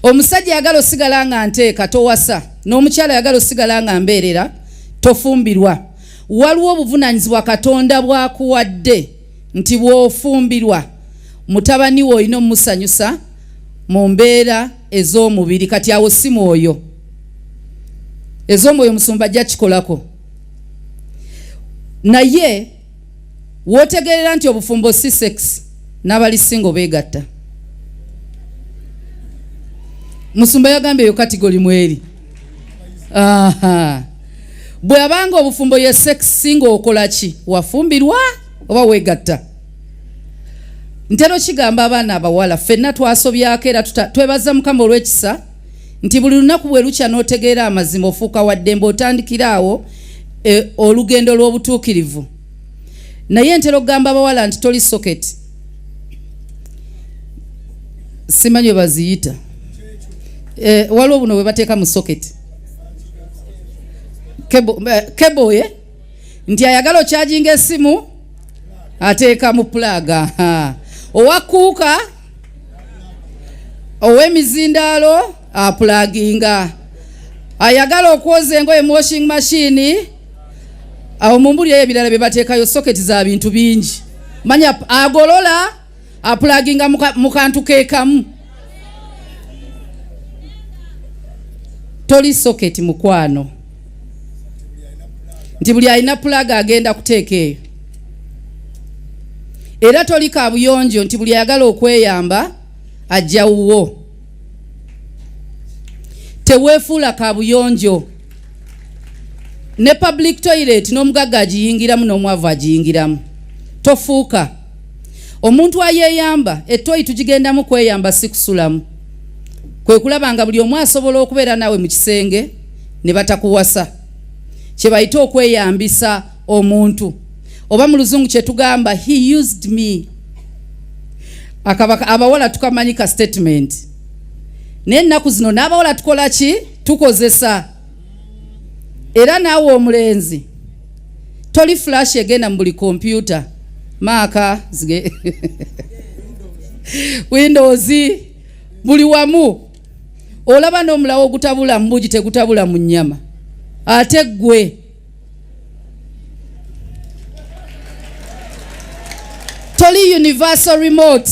omusajja yagala osigala nga nteeka towasa n'omukyala yagala osigala nga mbeerera tofumbirwa waliwo obuvunanyizibwa katonda bwakuwadde nti bwofumbirwa mutabani we olina omusanyusa mu mbeera ez'omubiri kati awo si mwoyo ez'omwoyo musumba ajja kikolako naye wootegeerera nti obufumbo si sex n'abali singo beegatta musumba yagambye eyo katigoli mweri bwe abanga obufumbo ye sex singa okola ki wafumbirwa oba weegatta ntera okigamba abaana abawala ffenna twasobyako era twebaza mukama olw'ekisa nti buli lunaku bwe lukya n'otegeera amazima ofuuka wa ddembe otandikira awo e, olugendo lw'obutuukirivu naye ntera okugamba abawala nti toli soketi simanyi webaziyita e, waliwo buno bwe bateeka mu soketi keboye eh, nti ayagala okyajinga esimu ateeka mu pulaaga owakuuka ow'emizindaalo apulaginga ayagala okwoza engoye mu washing machine awo mumbuli eyo ebirala byebateekayo soketi za bintu bingi manya agolola apulaginga mu kantu kekamu toli soketi mukwano nti buli alina pulaga agenda kuteeka eyo era toli kabuyonjo nti buli ayagala okweyamba ajja wuwo teweefuula kabuyonjo ne public toilet n'omugagga agiyingiramu n'omwavu agiyingiramu tofuuka omuntu ayeeyamba ettoyi tugigendamu kweyamba si kusulamu kwe kulaba nga buli omu asobola okubeera naawe mu kisenge ne batakuwasa kye bayita okweyambisa omuntu oba mu luzungu kyetugamba he used me abawala tukamanyi ka statement naye ennaku zino n'abawala tukola ki tukozesa era naawe omulenzi toli flash egenda mu buli kompyuta maaka zige windows buli wamu olaba n'omulawo ogutabula mu bugi tegutabula mu nnyama ate ggwe toli universal remote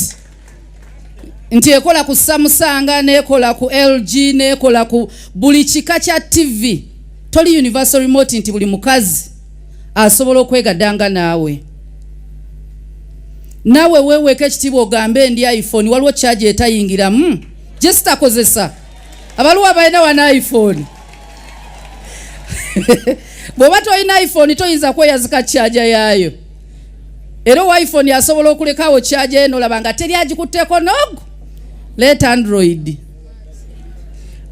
nti ekola ku samusanga nekola ku lg nekola ku buli kika kya tv toli universal remote nti buli mukazi asobola okwegadanga naawe nawe weweka ekitiibwa ogambe endi iphone waliwo kyagi etayingiramu jesitakozesa abaliwo abalina wana iphone bw'oba tolina iphone toyinza kweyazika kyaja yaayo era owa iphone asobola okulekawo kyaja ye nolaba nga teri agikutteko nogu let android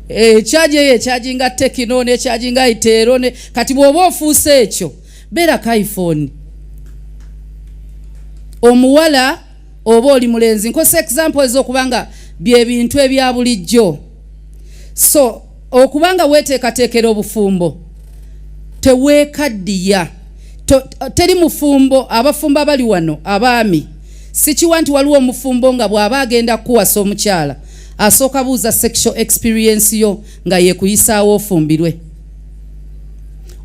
ekyaja eh, eyo ekyaginga tekino nekyaginga iteero kati bw'oba ofuuse ekyo beera ka iphone omuwala oba oli mulenzi nkozesa example ezokubanga byebintu ebya bulijjo so Okuba nga weeteekateekera obufumbo, teweekaddiya. Teri mufumbo, abafumbo abali wano, abaami, sikiwa nti waliwo omufumbo nga bw'aba agenda kukuwasa omukyala asooka buuza sexual experience yo nga yeekuyisaawo ofumbirwe.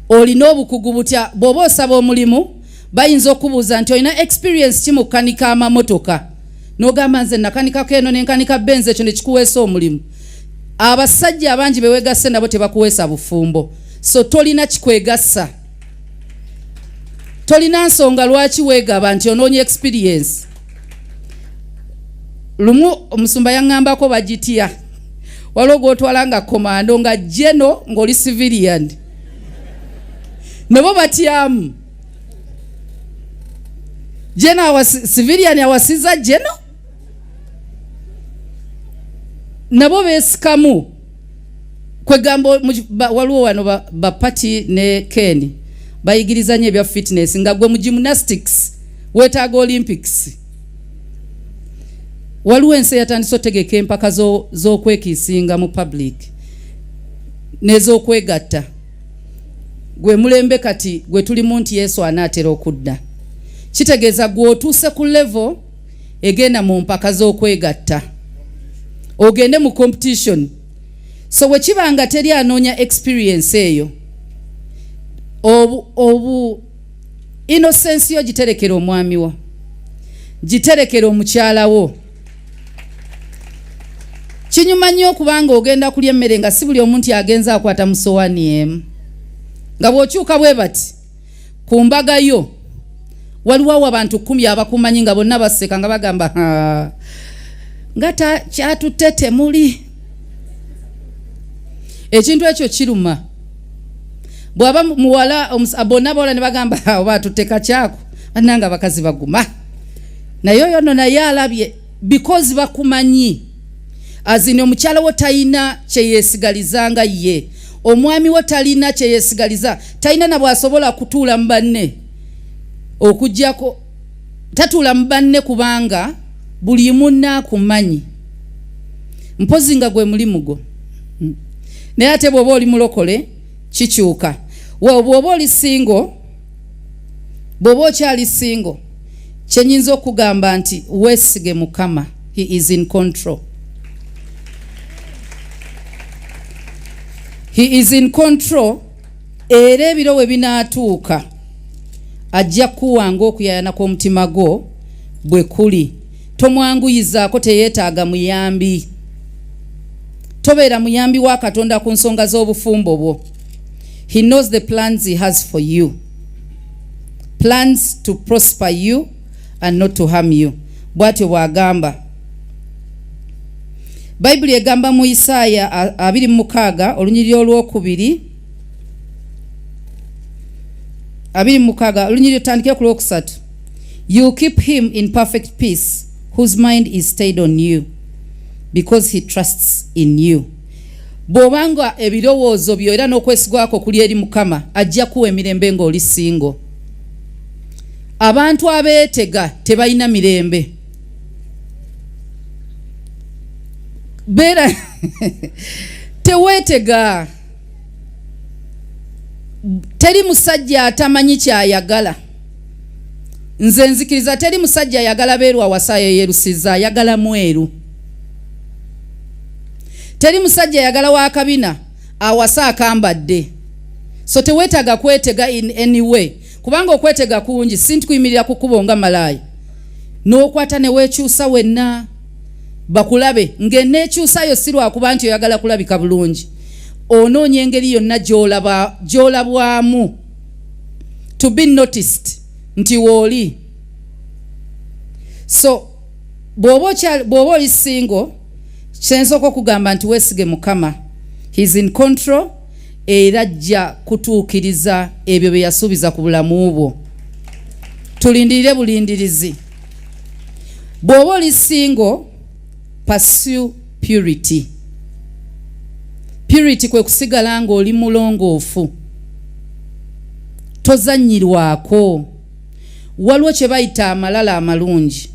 Olina obukugu butya? Bw'oba osaba omulimu, bayinza okubuuza nti olina experience ki mu kukanika amamotoka? N'ogamba nze nakanikako eno ne nkanika benzi, ekyo ne kikuweesa omulimu. abasajja abangi bewegasse nabo tebakuweesa bufumbo so tolina kikwegasa tolina nsonga lwaki wegaba nti onoonya experience lumu omusumba yaŋŋambako bagitya waliwo gwotwala nga komando nga jeno ng'oli civilian nebo batyamu jeno civilian awasiza jeno nabo besikamu kwegamba waliwo wano bapati ba ne ken bayigirizanyo ebya fitness nga gwe mu gymnastics wetaaga olympics waliwo ensi eyatandise otegeka empaka z'okwekiisinga mu public n'ez'okwegatta gwe mulembe kati gwe tulimu nti yesu anaatera okudda kitegeeza gwe otuuse ku level egenda mu mpaka z'okwegatta ogende mu competition so bwe kiba nga teri anoonya experience eyo obu, obu inosensi yo giterekera omwami wo giterekera omukyala wo kinyuma nnyo okubanga ogenda kulya emmere nga si buli omu nti agenza akwata musowani emu nga bw'okyuka bwe bati ku mbaga yo waliwo awo abantu kumi abakumanyi nga bonna baseka nga bagamba nga kyatutte temuli ekintu ekyo kiruma bwaba muwala bonna bawala ne bagamba oba atutte kakyako bananga abakazi baguma naye oyo no naye alabye bikozi bakumanyi azini omukyala wo talina kyeyesigaliza nga ye omwami wo talina kyeyesigaliza talina nabwasobola kutuula mubanne okujjako tatuula mubanne kubanga buli munakumanyi mpozi nga gwe mulimu gwo hmm. naye ate bwoba oli mulokole kikyuka webwoba oli singo bw'oba okyali singo kye nyinza okugamba nti weesige mukama he is in control he is in control era ebiro we binaatuuka ajja kuwanga okuyayana kw'omutima gwo bwe kuli tomwanguyizaako teyeetaaga muyambi tobeera muyambi wa katonda ku nsonga z'obufumbo bwo He knows the plans he has for you. Plans to prosper you and not to harm you. Bwatyo bwagamba. Baibuli egamba mu Isaaya 26 olunyiriri olwokubiri abiri mukaga olunyiriri otandike ku lwokusatu you keep him in perfect peace whose mind is stayed on you because he trusts in you bw'oba nga ebirowoozo byo era n'okwesigwa kwo kuli eri mukama ajja kuwa emirembe ng'oli singo abantu abeetega tebalina mirembe beera teweetega teri musajja atamanyi kyayagala nze nzikiriza teri musajja ayagala beeru awasayo eyerusiza ayagala mweru teri musajja ayagala wakabina awasa akambadde so tewetaaga kwetega in any way kubanga okwetega kungi sintikuyimirira kukubo nga malaayi n'okwata newekyusa wenna bakulabe ng'eneekyusayo si lwakuba nti oyagala kulabika bulungi onoonya engeri yonna gyolabwamu to be noticed nti wooli so bw'oba oli singo kyensooka okugamba nti weesige mukama his in control era ajja kutuukiriza ebyo bye yasuubiza ku bulamu bwo tulindirire bulindirizi bw'oba oli singo pursue purity purity kwe kusigala ng'oli mulongoofu tozannyirwako waliwo kye bayita amalala amalungi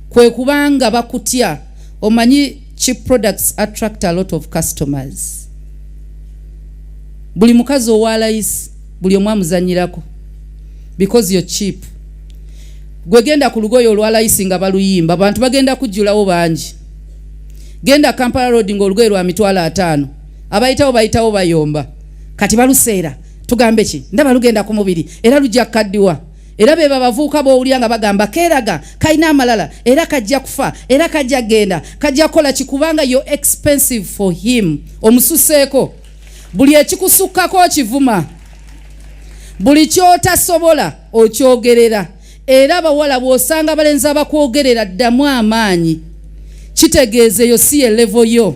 kwe kubanga bakutya omanyi cheap products attract a lot of customers buli mukazi owa layisi buli omu amuzanyirako because you're cheap gwe genda ku lugoye olwa layisi nga baluyimba abantu bagenda kujjulawo bangi genda kampala road nga olugoye lwa mitwalo ataano abayitawo bayitawo bayomba kati baluseera tugambe ki ndaba lugenda ku mubiri era lujja kukaddiwa era be babavuuka b'owulira nga bagamba keeraga kalina amalala era kajja kufa era kajja kugenda kajja kukola ki kubanga yo expensive for him omususeeko buli ekikusukkako okivuma buli kyotasobola okyogerera era abawala bw'osanga abalenzi abakwogerera ddamu amaanyi kitegeeza eyo si ye levo yo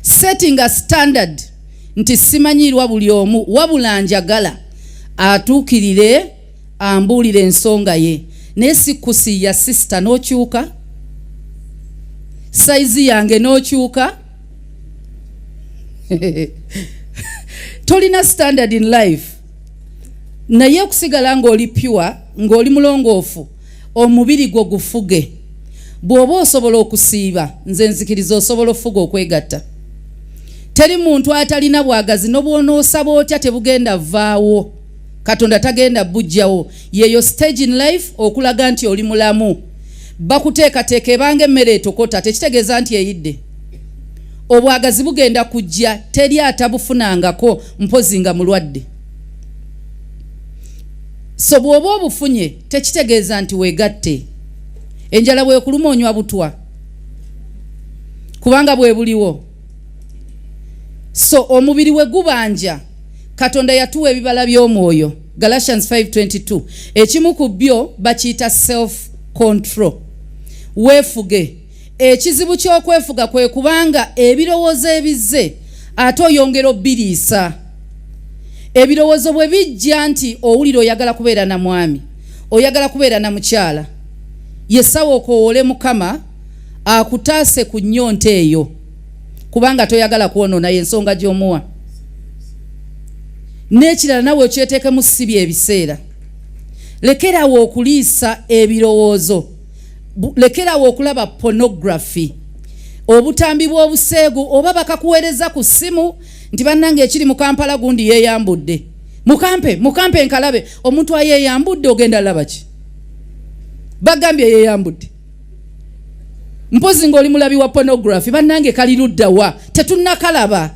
setting a standard nti simanyiirwa buli omu wabula njagala atuukirire ambuulire ensonga ye naye sikusiiya sisita n'okyuka sayizi yange n'okyuka tolina standard in life naye okusigala ng'oli pure ng'oli mulongoofu omubiri gwo gufuge bw'oba osobola okusiiba nze nzikiriza osobola ofuga okwegatta teri muntu atalina bwagazi nobwonoosaba otya tebugenda vaawo katonda tagenda bujjawo yeyo stage in life okulaga nti oli mulamu bakuteekateeka ebanga emmere etokota tekitegeeza nti eyidde obwagazi bugenda kujja teri atabufunangako mpozi nga mulwadde so bw'oba obufunye tekitegeeza nti weegatte enjala bwekuluma onywa butwa kubanga bwe buliwo so omubiri we gubanja katonda yatuwa ebibala by'omwoyo galatians 522 ekimu ku byo bakiyita self control weefuge Ekizibu ky'okwefuga kwe kubanga ebirowoozo ebizze ate oyongera obbiriisa. Ebirowoozo bwe bijja nti owulira oyagala kubeera na mwami, oyagala kubeera na mukyala, yesawa okowoole Mukama akutaase ku nnyonta eyo kubanga toyagala kwonoona y'ensonga gy'omuwa. N'ekirala nawe okyeteekemu si bye biseera. Lekerawo okuliisa ebirowoozo. lekerawo okulaba pornography obutambi bw'obuseegu oba bakakuweereza ku ssimu nti bannange ekiri mu kampala gundi yeeyambudde mukampe mukampe nkalabe omuntu ayeeyambudde ogenda laba ki bagambye yeeyambudde mpozi ng'oli mulabi wa pornography bannange kali ludda wa tetunnakalaba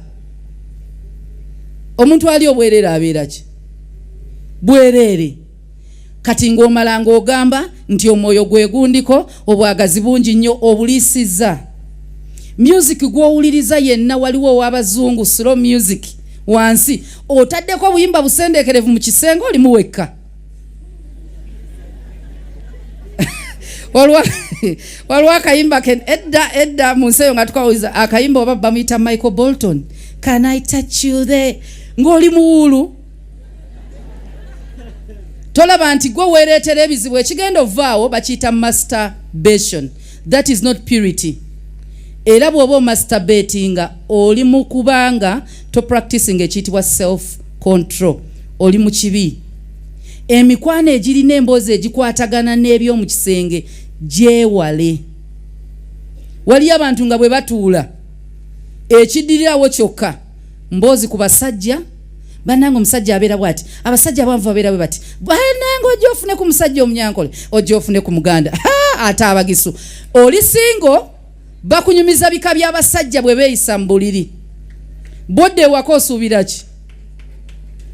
omuntu ali obwerere abeera ki bwereere kati ng'omala ng'ogamba nti omwoyo gwe gundiko obwagazi bungi nnyo obuliisizza music gw'owuliriza yenna waliwo ow'abazungu slow music wansi otaddeko obuyimba busendeekerevu mu kisenge olimu wekka waliwo akayimba ke edda edda mu nsi eyo nga tukawuliza akayimba oba bamuyita michael bolton can i touch you there ng'oli muwuulu tolaba nti gwe weereetera ebizibu ekigenda ovaawo bakiyita masturbation that is not purity era bw'oba omasturbatinga oli mu kubanga to practicing ekiyitibwa self control oli mu kibi emikwano egirina emboozi egikwatagana n'ebyomu kisenge gyewale waliyo abantu nga bwe batuula ekiddirirawo kyokka mboozi ku basajja banange omusajja abeera bwati abasajja abanvu babeera bwe bati banange ojja ofune ku musajja omunyankole ojja ofune ku muganda ate abagisu oli singo bakunyumiza bika by'abasajja bwe beeyisa mu buliri bodde ewaka osuubira ki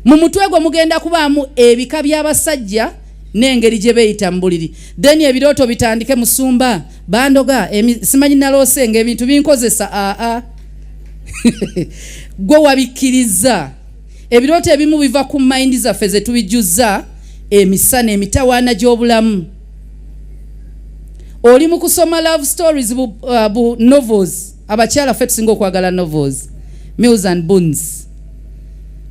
mu mutwe gwo mugenda kubaamu ebika by'abasajja n'engeri gye beeyita mu buliri then ebirooto bitandike musumba bandoga simanyi naloose nga ebintu binkozesa aa gwe wabikkiriza ebirooto ebimu biva ku mayindi zaffe ze tubijjuzza emisana emitawaana gy'obulamu oli mu kusoma love stories bu, uh, bu novels abakyala ffe tusinga okwagala novels mills and boons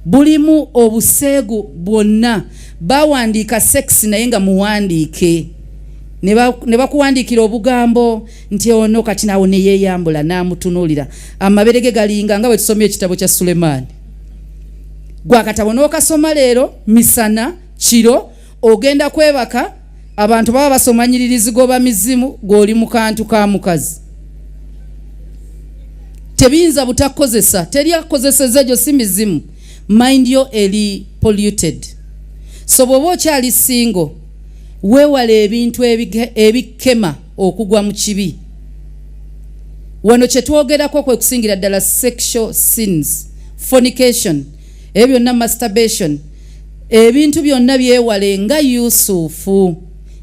bulimu obuseegu bwonna bawandiika sex naye nga muwandiike ne bakuwandiikira obugambo nti ono kati nawo neyeyambula namutunuulira amabere ge galinga nga bwetusomye ekitabo kya sulemaani gwakatabo n'okasoma leero misana kiro ogenda kwebaka abantu baba basoma nyiriri zigoba mizimu gw'oli mu kantu ka mukazi tebiyinza butakozesa teri akozeseza egyo si mizimu mind yo eri polluted so bw'oba okyali single Weewale ebintu ebikema okugwa mu kibi. Wano kye twogerako kwe kusingira ddala sexual sins, fornication, ebyo byonna masturbation, ebintu byonna byewale nga Yusufu.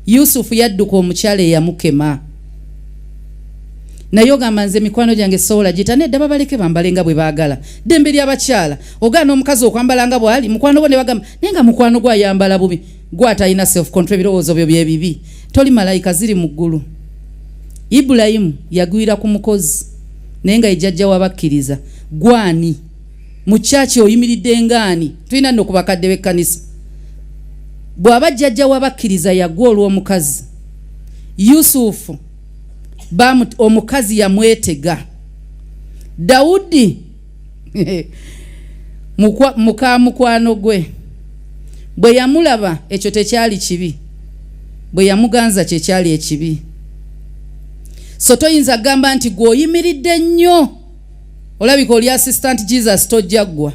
Yusufu yadduka omukyala eyamukema. naye ogamba nze mikwano gyange sobola gita nedda babaleke bambale nga bwe baagala ddembe ly'abakyala ogaana omukazi okwambala nga bw'ali mukwano gwo ne bagamba naye nga mukwano gwo ayambala bubi gwe atalina self control ebirowoozo byo byebibi toli malayika ziri mu ggulu ibulayimu yagwira ku mukozi naye nga ejjajja wabakkiriza gwani mu kyaki oyimiridde ngaani tulina nno ku bakadde b'ekkanisa bw'aba jjajja wabakkiriza yagwa olw'omukazi yusufu omukazi yamwetega dawudi muka mukwano gwe bwe yamulaba ekyo tekyali kibi bwe yamuganza kye kyali ekibi so toyinza kugamba nti gweoyimiridde nnyo olabika oli assistant jesus tojjaggwa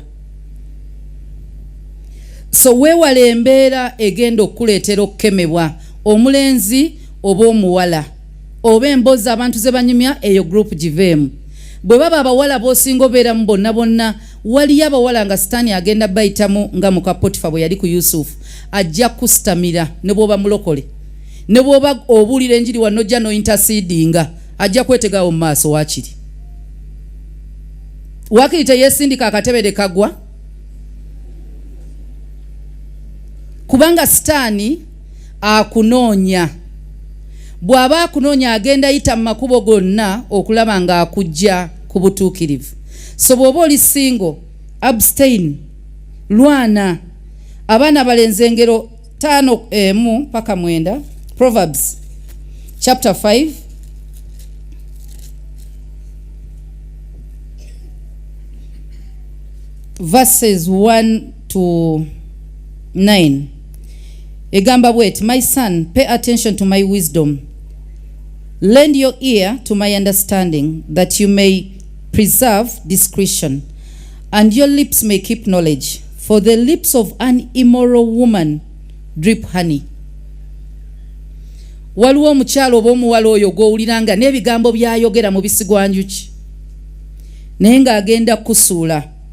so weewala embeera egenda okukuleetera okukemebwa omulenzi oba omuwala oba embozi abantu zebanyumya eyo group giveemu bwe baba abawala bosinga obeeramu bonna bonna waliyo abawala nga sitaani agenda bayitamu nga muka potifa bwe yali ku yusufu ajja kusitamira ne bwoba mulokole ne bwoba obuulira enjiri wano ojja nointasiidinga ajja kwetegawo mu maaso wakiri wakiri teyesindika akatebe de kagwa kubanga sitaani akunoonya bw'aba akunoonya agenda yita mu makubo gonna okulaba ng'akujja ku butuukirivu so bw'oba oli singo abstain lwana abaana balenze engero taano emu eh, paka mwenda proverbs chapter 5 verses 1 to 9 egamba bweti my son pay attention to my wisdom lend your ear to my understanding that you may preserve discretion and your lips may keep knowledge for the lips of an immoral woman drip honey waliwo omukyalo oba omuwala oyo gwowulira nga n'ebigambo byayogera mu bisigwanjuki naye ng'agenda kukusuula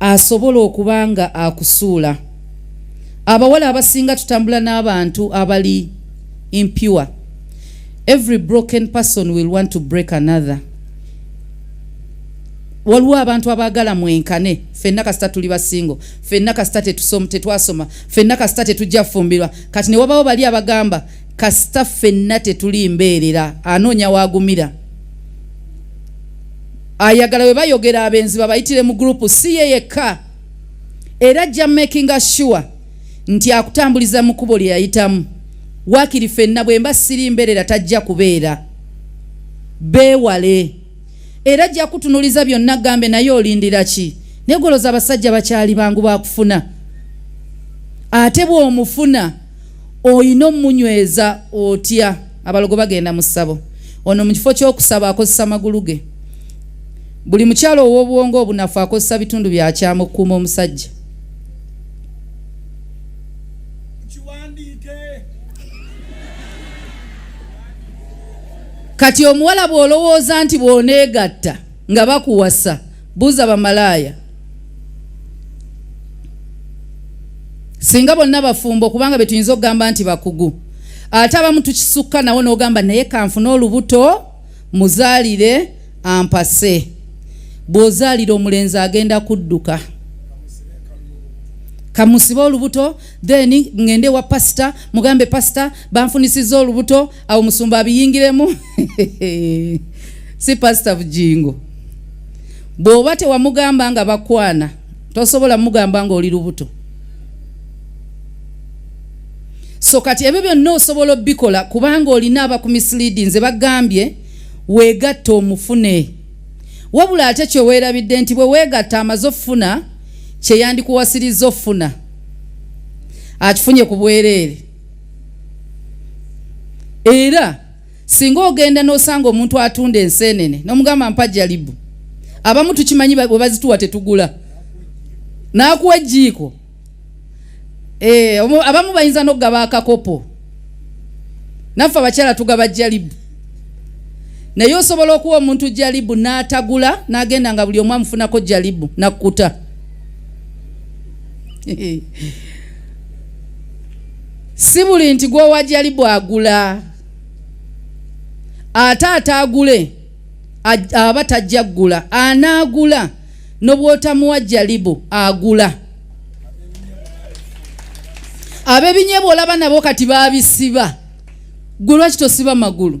asobola okuba nga akusuula abawala abasinga tutambula n'abantu abali impure every broken person will want to break another waliwo abantu abaagala mwenkane fenna kasita tuli basingo fenna kasita tetwasoma fenna kasita tetujja fumbirwa kati ne wabawo bali abagamba kasita fenna tetuli mbeerera anoonya waagumira ayagala bwe bayogera abenzi babayitire mu gurupu si ye yekka era ajja makinga sure nti akutambuliza mu kubo lye yayitamu waakiri fenna bwe mba siri mbeerera tajja kubeera beewale era ajja kutunuliza byonna gambe naye olindira ki negoloza abasajja bakyali bangu bakufuna ate bw'omufuna olina omunyweza otya abalogo bagenda mu ssabo ono mu kifo ky'okusaba akozesa magulu ge buli mukyalo ow'obwongo obunafu akozesa bitundu byakyama okukuuma omusajja kati omuwala bw'olowooza nti bw'oneegatta nga bakuwasa Buuza bamalaaya singa bonna bafumbo kubanga betuyinza okugamba nti bakugu ate abamu tukisukka nawo n'ogamba naye kanfuna olubuto muzaalire ampase bw'ozaalira omulenzi agenda kudduka kamusibe olubuto then ngende wa pasita mugambe pasita banfunisiza olubuto awo musumba abiyingiremu si pasita bujingo bw'oba tewamugamba nga bakwana tosobola mugamba nga oli lubuto so kati ebyo byonna osobola obikola kubanga olina abakumisilidi nze bagambye weegatta omufune wabula ate kyoweerabidde nti bwe weegatta amaze okufuna kyeyandikuwasirizza okufuna akifunye ku bwereere era singa ogenda n'osanga omuntu atunda enseenene nomugamba mpa jalibu abamu tukimanyi bwe bazituwa tetugula n'akuwa ejjiiko eh, abamu bayinza n'okugaba akakopo naffe abakyala tugaba jalibu naye osobola okuwa omuntu jalibu n'atagula n'agenda nga buli omu amufunako jalibu nakkuta si buli nti gwowajali bwagula ate ataagule aba tajja kugula anaagula nobwotamuwa jalibu agula abebinyebwa olaba nabo kati babisiba gwe lwaki tosiba magulu